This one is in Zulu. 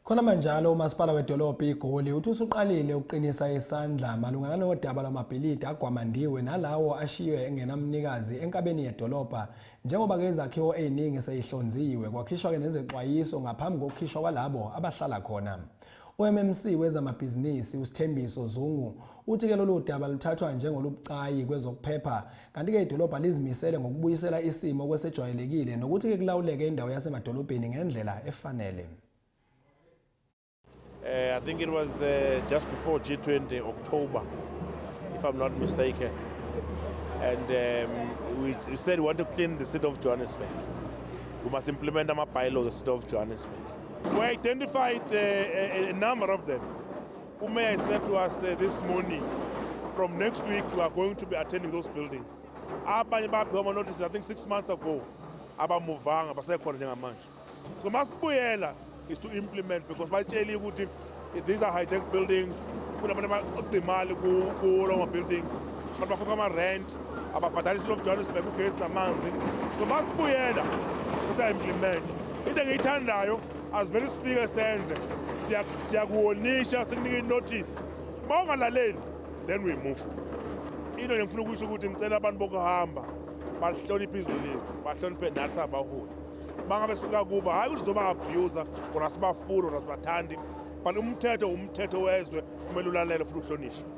Khona manjalo uMasipala weDolobha iGoli uthi usuqalile ukuqinisa isandla malungana nodaba lwamabhilidi agwamandiwe nalawo ashiywe engenamnikazi enkabeni yedolobha njengoba ke izakhiwo eziningi seyihlonziwe kwakhishwa ke nezexwayiso ngaphambi kokukhishwa kwalabo abahlala khona. UMMC wezamabhizinisi uSithembiso Zungu uthi ke lolu daba luthathwa njengolubucayi kwezokuphepha Kanti-ke idolobha lizimisele ngokubuyisela isimo okwesejwayelekile nokuthi-ke kulawuleke indawo yasemadolobheni ngendlela efanele. Uh, I think it was uh, just before G20 October, if I'm not mistaken. And um, we, we said we want to clean the city of Johannesburg. We must implement our bylaws of the city of Johannesburg. We identified uh, a, a number of them. UMayor said to us uh, this morning from next week we are going to be attending those buildings. Abanye baphiwa ama notice I think 6 months ago abamuvanga basekhona njengamanje. So masibuyela is to implement because batsheli ukuthi these are hijacked buildings kunabantu abaqoqa imali kulo ma buildings abantu bakhokha ama rent ababhadala isilo of Johannesburg ugesi namanzi so masibuyela sisa implement into engiyithandayo asivele sifike senze siyakuwonisha sikunika inotice uma ungalaleli then we move into nje ngifuna ukusho ukuthi ngicela abantu bokuhamba bahloniphe izwe lethu bahloniphe nathi sabaholi uma ngabe sifika kuba hhayi ukuthi zoba-abusa or asibafuni or asibathandi but umthetho umthetho wezwe kumele ulalele futhi uhlonishwe